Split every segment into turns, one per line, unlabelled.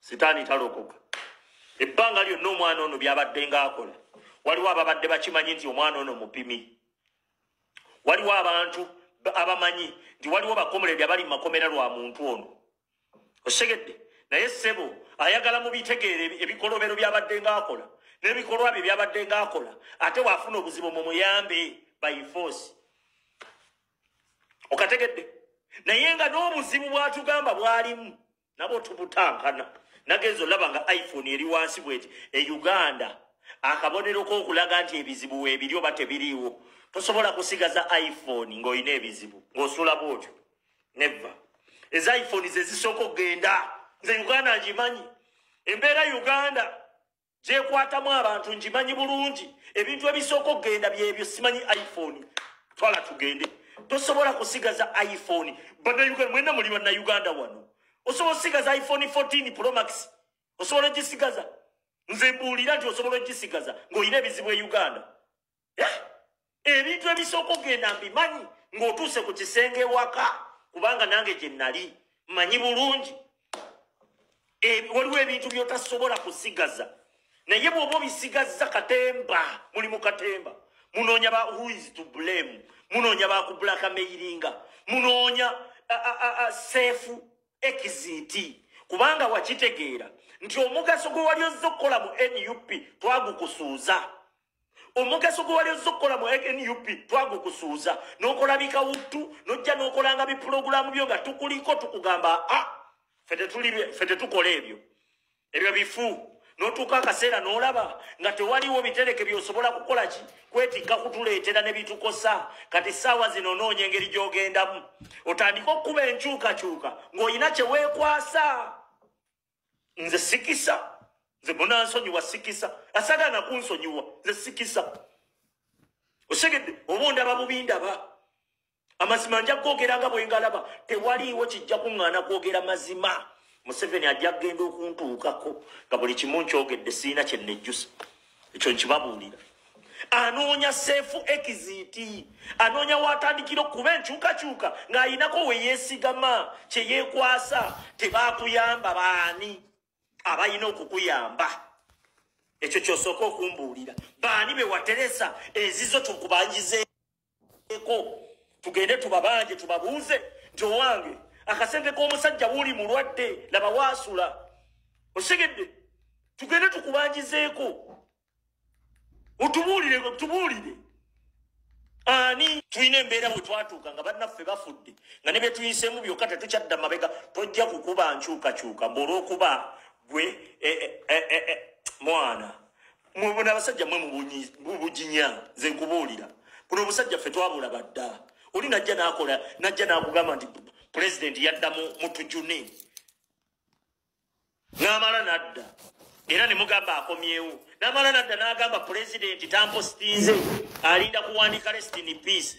sitaani talokoka ebbanga lyonna omwana ono byabadde ngaakola waliwo ababadde bakimanyi nti omwana ono mupimi waliwo abantu abamanyi nti waliwo bakomuledi abali mu makomera lwa muntu ono osegedde naye ssebo ayagala mu bitegeere ebikolobero byabadde ngaakola n'ebikolwa bye byabadde ngaakola ate waafuna obuzibu mu muyambe by force okategedde naye nga n'obuzibu bwatugamba bwalimu nabo tubutankana nagenza olaba nga iphone eri wansi bweti e uganda akabonero kookulaga nti ebizibu weebiri oba tebiriiwo tosobola kusigaza iphone ng'olina ebizibu ng'osula bwotyo neva eza iphone zezisooka okugenda nze uganda ngimanyi embeera uganda gyekwatamu abantu ngimanyi bulungi ebintu ebisooka okugenda byebyo simanyi iphone twala tugende tosobola kusigaza iphone banauganda mwena muli banauganda wano osobola okusigaza iphone 14 promax osobola ogisigaza nze mbuulira nti osobola ogisigaza ng'olina ebizibu e uganda ebintu ebisooka ogenda mbimanyi ng'otuuse ku kisenge ewaka kubanga nange gye nnali mmanyi bulungi e, waliwo ebintu by'otasobola kusigaza naye bw'oba obisigazza katemba muli mu katemba munoonya ba who is to blame munoonya bakubulaka meyiringa munoonya seefu ekiziti kubanga wakitegeera nti omugaso gwe wali ozze okukola mu nup twagukusuuza omugaso gwe wali ozza okukola mu nup twagukusuuza n'okola bikawuttu n'ojja n'okolanga bipulogulaamu byo nga tukuliko tukugamba a ah, fe tetukola ebyo ebyo bifu n'otuuka akaseera n'olaba nga tewaliwo bitereke byosobola kukola ki kwetikka kutuleetera ne bitukosa kati ssaawa zino onoonya engeri gy'ogendamu otandike okukuba enkyukakyuka ng'olina kye weekwasa nze sikisa nze munansonyiwa sikisa asagala nakunsonyiwa nze sikisa osegedde oba ondaba bubi ndaba amazima nja kugogera nga bwengalaba tewaliiwo kijja kuŋŋaana kwogera mazima museveni ajja kugenda okuntuukako nga buli kimu nkyogedde siina kyenejjusa ekyo nkibabuulira anoonya seefu ekiziiti anoonya waatandikira okuba enkyukakyuka ng'ayinako we yeesigama kye yeekwasa tebaakuyamba baani abalina okukuyamba ekyo kyosooka okumbuulira baani be wateresa ezizo tukubanjize eko tugende tubabanje tubabuuze nti owange akasente k'omusajja wuli mulwadde laba waasula osigedde tugende tukubanjizeeko otubuulire tubuulire ani tulina embeera bwe twatuuka nga bannaffe bafudde nga ne byetuyiseemu byokka tetukyadda mabega tojja kukuba nkyukakyuka mbu olwokuba gwe eh, eh, eh, mwana mubona abasajja mwe mubujinya nze nkubuulira buno obusajja ffe twabula badda oli najja nakola najja nakugamba nti pulezidenti yadda mutujune namala nadda era nemugamba akomyewo namala nadda nagamba pulezidenti tampositinze alinda kuwandika restini peace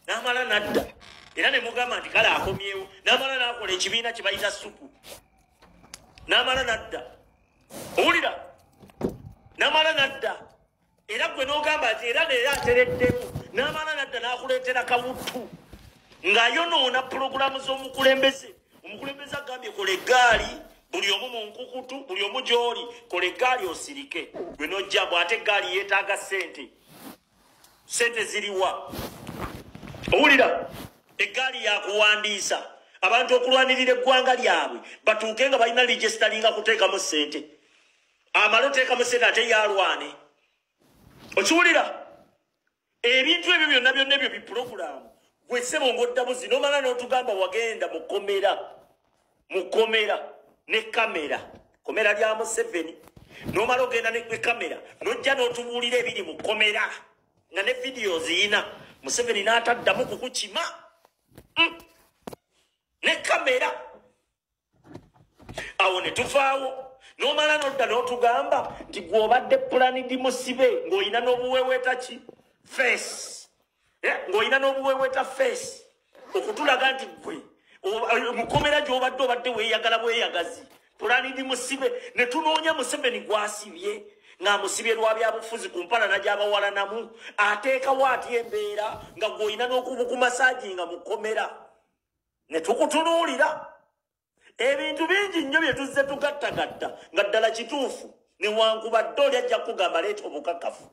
namala nadda era nemugamba nti kale akomyewo namala nakola ekibiina kyebayita suku namala nadda owulira namala nadda era gwe nogamba nti era neera atereddemu namala nadda nakuleetera kawuttu ng'ayonoona pulogulaamu z'omukulembeze omukulembeze agambye kola eggaali buli omu mu nkukutu buli omu gy'oli kola eggaali osirike gwe nojja bw ate eggaali yeetaaga ssente sente ziriwa owulira eggaali yakuwandiisa abantu okulwanirira eggwanga lyabwe batuuke nga balina ligesitalinga kuteekamu sente amale oteekamu sente ate yalwane okiwulira ebintu ebyo byonna byonna ebyo bipulogulaamu gwesebonga oddabuzi nomala n'otugamba wagenda mukomera mu komera ne kamera komera lya museveni nomala ogenda ne kamera nojja notubuulira ebiri mu komera nga ne vidiyo ziyina museveni n'ataddamu kukukima mm. ne kamera awo ne tuvaawo nomala nodda n'otugamba nti gwobadde pulanidi musibe ng'olina n'obuweweeta ki feesi eh, ng'olina n'obuweeweta feesi okutulaga nti gwe eh, mukomera gy'obadde obadde weeyagala bweyagazi pulani ndi musibe ne tunoonya museveni gwasibye ng'amusibye lwa byabufuzi ku mpalana gy'abawalanamu ateekawo atya embeera nga gw'olina n'okubukumasaaji nga mukomera ne tukutunuulira ebintu bingi nnyo bye tuzze tugattagatta nga ddala kituufu newankubadde oli ajja kukugamba leeta obukakafu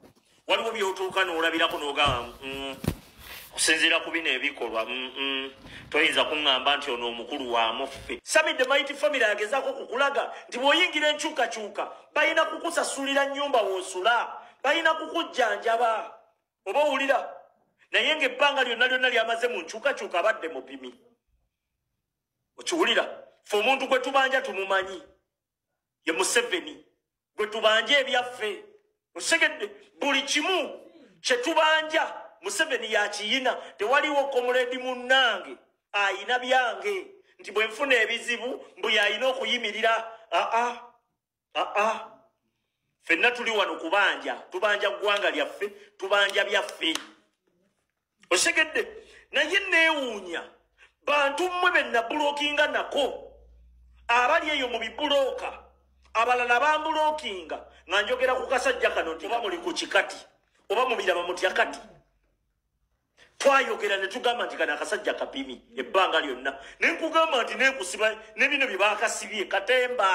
waliwo byotuuka n'olabirako n'ogamba mm, okusinziira ku bino ebikolwa mm, mm, toyinza kuŋŋamba nti ono omukulu wa muffe sami the mighty family agezaako kukulaga nti bw'oyingira enkyukakyuka balina kukusasulira nnyumba w'osula balina kukujjanjaba oba owulira naye ng'ebbanga lyonna lyonna lyamaze mu nkyukakyuka abadde mupimi okiwulira fe omuntu gwe tubanja tumumanyi ye museveni gwe tubanja ebyaffe osegedde buli kimu kye tubanja museveni yakiyina tewaliwo komuledi munnange ayina byange nti bwe nfuna ebizibu mbu yalina okuyimirira aa ah, ah. aa ah, ah. fenna tuli wano kubanja tubanja ggwanga lyaffe tubanja byaffe osegedde naye neewuunya bantu mmwe be nabulokinga nako abali eyo mu bibulooka abalala bambulokinga nga njogera ku kasajja kano nti oba muli ku kikati oba mubiraba mutya kati twayogera ne tugamba nti kana akasajja kapimi ebbanga lyonna ne nkugamba nti nekusiba ne bino bye baakasibye katemba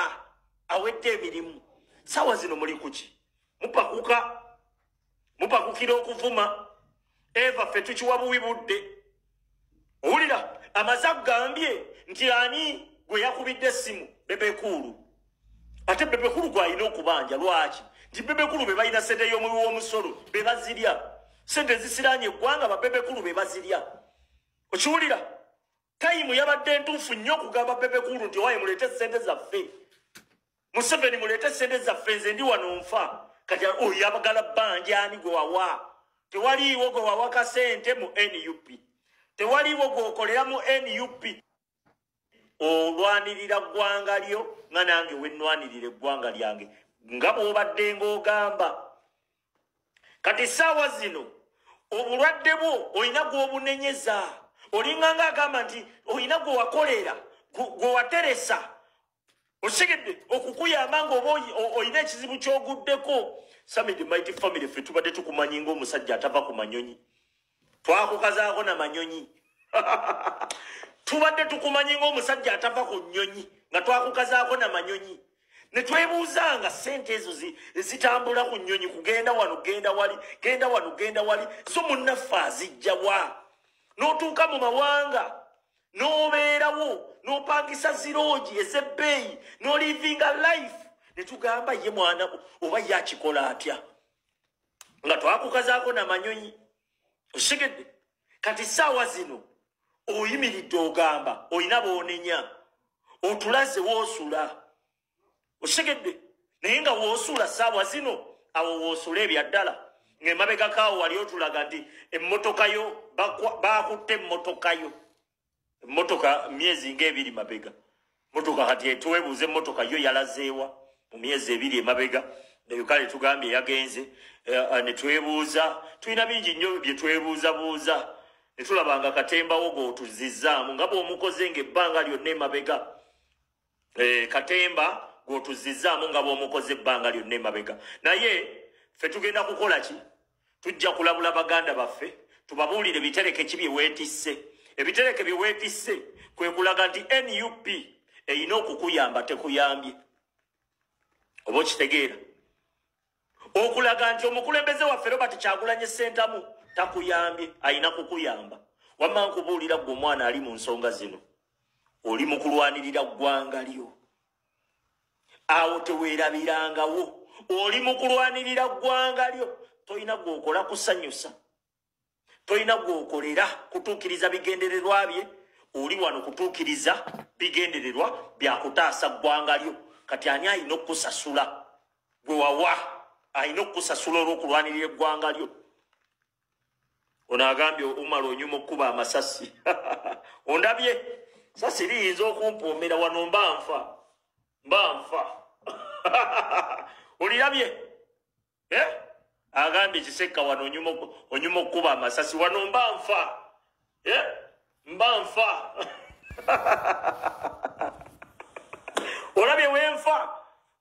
awedde emirimu sawa zino muli kuki mupakuka mupakukira okuvuma eva ffe tukiwa buwi budde owulira amaze agambye nti ani gwe yakubidde essimu bebekuulu ate bebekulu gwalina okubanja lwaki nti bebekulu bebalina sente yomuwi womusolo bebazirya sente ezisiranye eggwanga babebekulu bebazirya okiwulira tayimu yabadde entuufu nnyo okugamba bebekulu nti owaye muleete sente zaffe museveni muleete sente zaffe nze ndi wano nfa kati oyo abagala banja ani gwe wawa tewaliiwo gwe wawa kasente mu nup tewaliiwo gweokolera mu nup olwanirira ggwanga lyo nga nange wenwanirira eggwanga lyange nga bwobadde ngaogamba kati saawa zino obulwadde bwo olina gwobunenyeza olinganga agamba nti olina gwewakolera gwewateresa osigedde okukuyamba nga oba olina ekizibu kyoguddeko samid mighty family fe tubadde tukumanyi ngaomusajja atava ku manyonyi twakukazaako na manyonyi tubadde tukumanyi ngaomusajja atava ku nyonyi nga twakukazaako na manyonyi ne twebuuza nga sente ezo zitambula ku nyonyi kugenda wano genda wali genda wano genda wali zo munnaffe azijjawa n'otuuka mu mawanga n'obeerawo n'opangisa ziroogi ez'ebbeeyi n'olivinga life ne tugamba ye mwana oba ye akikola atya nga twakukazaako namanyonyi osigedde kati saawa zino oyimiridde ogamba olina boonenya otulaze woosula okitegedde naye nga woosuula saawa zino awo woosuula ebyaddala ng'emabegako awo wali otulaga nti emmotoka yo baakutte emmotoka yo emmotoka myezi ng'ebiri mabega motoka kati etuwebuuza emmotoka yo yalazeewa mu myezi ebiri emabega nayo kale tugambye yagenze eh, eh, ne twebuuza tulina bingi nnyo bye twebuuzabuuza ne tulaba nga katembawo g'otuzizzaamu nga bw'omukoze ng'ebbanga lyonna emabega Eh, katemba gwotuzizaamu nga bwomukoze ebbanga lyonna emabega naye fe tugenda kukola ki tujja kulabula baganda baffe tubabuulire bitereke ki byewetisse ebitereke byewetisse kwe kulaga nti nup erina okukuyamba tekuyambye oba okitegeera okulaga nti omukulembeze waffe robert kyagulanye sentamu takuyambye alina kukuyamba wamma nkubuulira gwe omwana ali mu nsonga zino oli mu kulwanirira ggwanga lyo awo teweerabirangawo oli mu kulwanirira ggwanga lyo tolina gweokola kusanyusa tolina gwokolera kutuukiriza bigendererwa bye oli wano kutuukiriza bigendererwa byakutaasa ggwanga lyo kati ani alina okukusasula gwe wawa alina okukusasula olwokulwanirira eggwanga lyo ono agambye umala onyuma okukuba amasasi ondabye sasi liyinza okumpuumira wano mba nfa mba nfa olirabye eh? agambye kisekka wano onyuma okukuba amasasi wano mba nfa eh? mba nfa olabye wenfa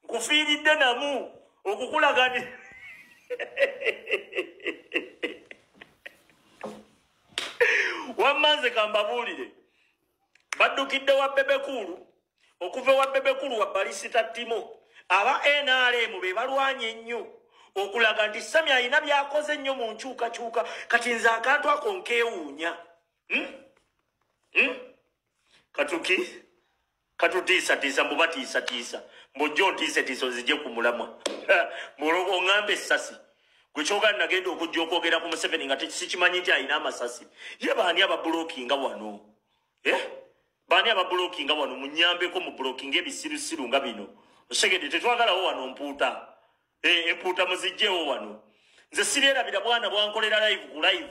nkufiiridde namu okukulagani wamma nze kambabuulire baddukidde wa bebekuulu okuva ewa bebekuulu wa balisita ttimo aba nrm be balwanye ennyo okulaga nti sami alina byakoze ennyo mu nkyukakyuka kati nze akantu ako nkewuunya hmm? hmm? katuki katutiisatiisa mbu batiisatiisa mbujja ontiisetiisa ozije ku mulamwa mbu oŋamba essasi gwe kyogali nagenda okujja okwogera ku museveni nga sikimanyi nti alina amasasi ye baani ababulokinga wano eh? baani ababulokinga wano munyambeko mu bulokinga ebisirusiru nga bino osegede tetwagalawo wano mpuuta eh, empuuta muzijjeewo wano nze siryerabira bwana bwankolera live ku live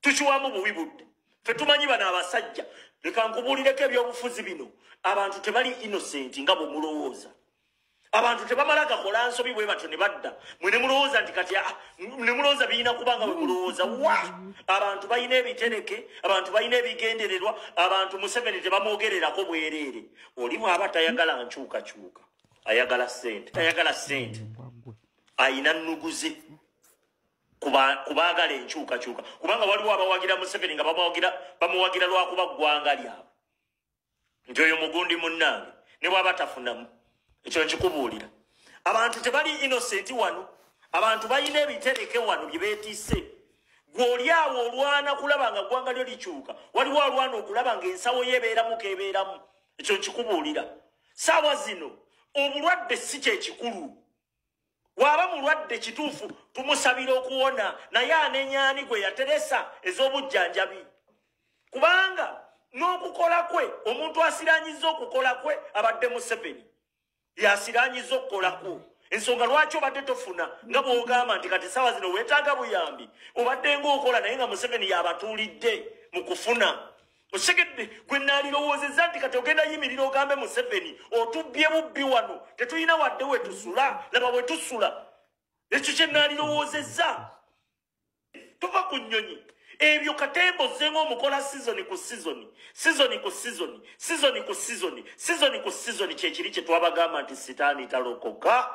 tukiwamu buwi budde fe tumanyi bano abasajja leka nkubuulireko ebyobufuzi bino abantu tebali innocent nga bwemulowooza abantu tebamala gakola nsobi bwe batyo ne badda mwe ne mulowooza nti kati ah, ne mulowooza birina kuba nga bwe mulowooza wa abantu balina ebitereke abantu balina ebigendererwa abantu museveni tebamwogererako bwereere oli bwaba tayagala nkyukakyuka ayagala sente tayagala sente ayina nnuguze ku baagala enkyukakyuka kubanga waliwo abawagira museveni nga bamuwagira lwakuba ggwanga lyabwe nti oyo mugundi munnange ne bwaba tafunamu ekyo nkikubuulira abantu tebali innosenti wano abantu balina ebitereke wano bye beetise gw'oli awo olwana kulaba nga ggwanga lyo likyuka waliwo alwana okulaba ng'ensawo ye ebeeramu keebeeramu ekyo nkikubuulira saawa zino obulwadde si kyekikulu waba mulwadde kituufu tumusabira okuwona naye anenyani gwe yateresa ez'obujjanjabi kubanga n'okukola kwe omuntu asiranyiza okukola kwe abadde museveni yasiranyiza okukola kwo ensonga lwaki obadde tofuna nga bwogamba nti kati saawa zino wetaaga buyambi obadde ngaokola naye nga museveni yabatuulidde mu kufuna osegedde gwe naalirowoozezza nti kati ogenda yimirira ogambe museveni otubbye bubbi wano tetulina wadde wetusula laba wetusula ekyo kye naalirowoozezza tuva ku nnyonyi ebyo katemba ozzenga omukola sizoni ku sizoni sizoni ku sizoni sizoni ku sizoni sizoni ku sizoni kyekiri kye twabagamba nti sitaani talokoka